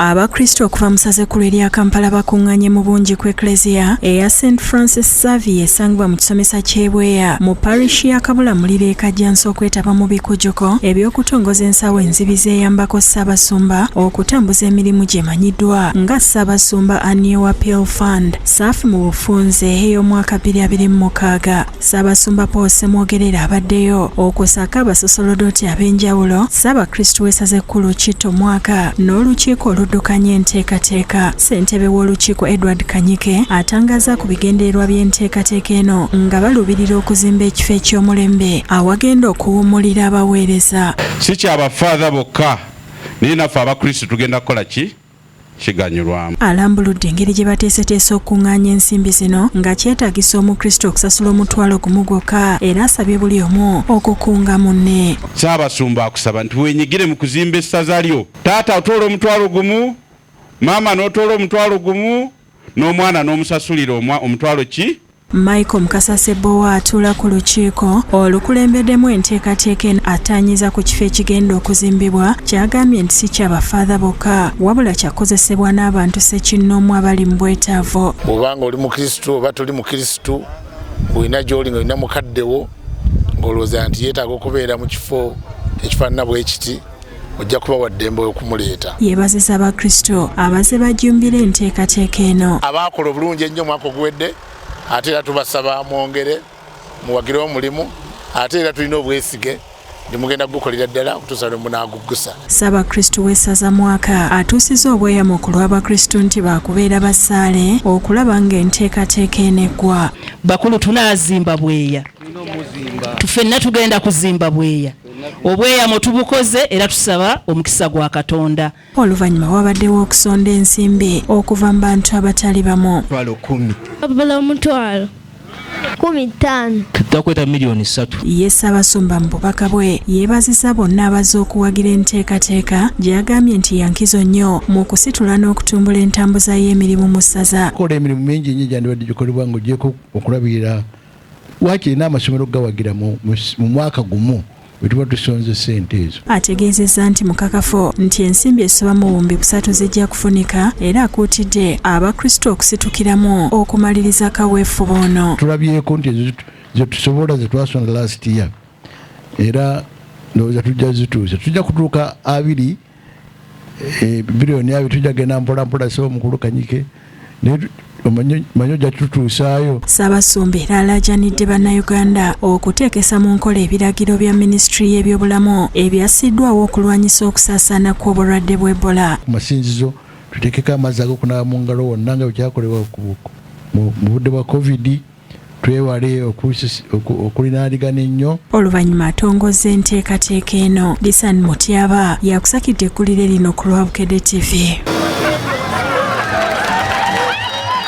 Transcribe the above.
Abakristo okuva mu ssaza ekkulu erya Kampala bakuŋŋanye mu bungi ku Eklezia eya St Francis Xavier esangibwa mu kisomesa ky'e Bweya mu parishi ya Kabula Muliro e Kajjansi okwetaba mu bikujuko eby'okutongoza ensawo enzibizi eyambako Ssaabasumba okutambuza emirimu gye manyiddwa nga Ssaabasumba Annual Appeal Fund, SAAF mu bufunze, ey'omwaka bbiri abiri mu mukaaga. Ssaabasumba Paul Ssemwogerere abaddeyo okusaka abasosolodoti ab'enjawulo, Ssaabakristu w'essaza ekkulu Kitto Mwaka n'olukiiko oluddukanya enteekateeka. Ssentebe w'olukiiko Edward Kanyike atangaaza ku bigendererwa by'enteekateeka eno nga baluubirira okuzimba ekifo eky'omulembe awagenda okuwummulira abaweereza. Si kya ba Father bokka naye naffe abakristu tugenda kukola ki? kiganyulwamu. Alambuludde engeri gye bateeseteese okukungaanya ensimbi zino nga kyetagisa omukristu okusasula omutwalo gumu gwokka era asabye buli omu okukunga munne. Ssaabasumba akusaba nti wenyigire mu kuzimba essaza lyo, taata otoola omutwalo gumu, maama n'otoola omutwalo gumu n'omwana n'omusasulira omwa omutwalo ki Michael Mukasa Ssebbowa atuula ku lukiiko olukulembedemu enteekateeka eno attaanyiza ku kifo ekigenda okuzimbibwa kyagambye nti si kya bafaadha bokka wabula kyakukozesebwa n'abantu ssekinnoomu abali mu bwetaavu. Bw'obanga oli Mukristu oba toli Mukristu olina gy'oli ng'olina mukaddewo ng'olowooza nti yeetaaga okubeera mu kifo ekifaanana bwe kiti ojja kuba wa ddembe okumuleeta yebaziza abakristo abaze bajjumbira enteekateeka eno abaakola obulungi ennyo omwaka oguwedde ate era tubasaba mwongere muwagire omulimu ate era tulina obwesige ndimugenda kugukolera ddala okutuusa ne munaaguggusa ssaabakristu w'essaza mwaka atuusiza obweyamo ku lw'abakristu nti baakubeera basaale okulaba ng'enteekateeka eneggwa bakulu tunaazimba bweya tufenna tugenda kuzimba bweya Obweyamo tubukoze era tusaba omukisa gwa Katonda. Oluvannyuma wabaddewo okusonda ensimbi okuva mu bantu abatali bamu. Abula omutwalo kumi ttaano. Takweta miliyoni ssatu. Ye Ssaabasumba mu bubaka bwe yeebazizza bonna abazze okuwagira enteekateeka gye yagambye nti ya nkizo nnyo mu kusitula n'okutumbula entambuza y'emirimu mu ssaza. Tukola emirimu mingi nnyo egyandibadde gikolebwa ng'oggyeeko okulabirira Lwaki erina amasomero okugawagira mu mwaka gumu bwe tuba tusonze ssente ezo. Ategeezezza nti mukakafu nti ensimbi ezisoba mu buwumbi busatu zijja kufunika era akuutidde Abakristu okusitukiramu okumaliriza kaweefube ono. Tulabyeko nti ezo zetusobola zetwasonda last year era ndowooza tujja zituusa tujja kutuuka abiri eh, biliyoni abiri tujja genda mpolampola sebo mukulu kanyike manyi ojja tutuusaayo ssaabasumba era alaajanidde bannayuganda okuteekesa mu nkola ebiragiro bya minisitule y'ebyobulamu ebyassiddwawo okulwanyisa okusaasaana kw'obulwadde bw'ebola ku masinzizo tuteekeko amazzi ag'okunaaba mu ngalo wonna nga bwekyakolebwa mu budde bwa covid twewale okulinaanigana ennyo. Oluvannyuma atongozza enteekateeka eno. Disan Mutyaba yakusakidde eggulire lino ku lwa Bukedde TV.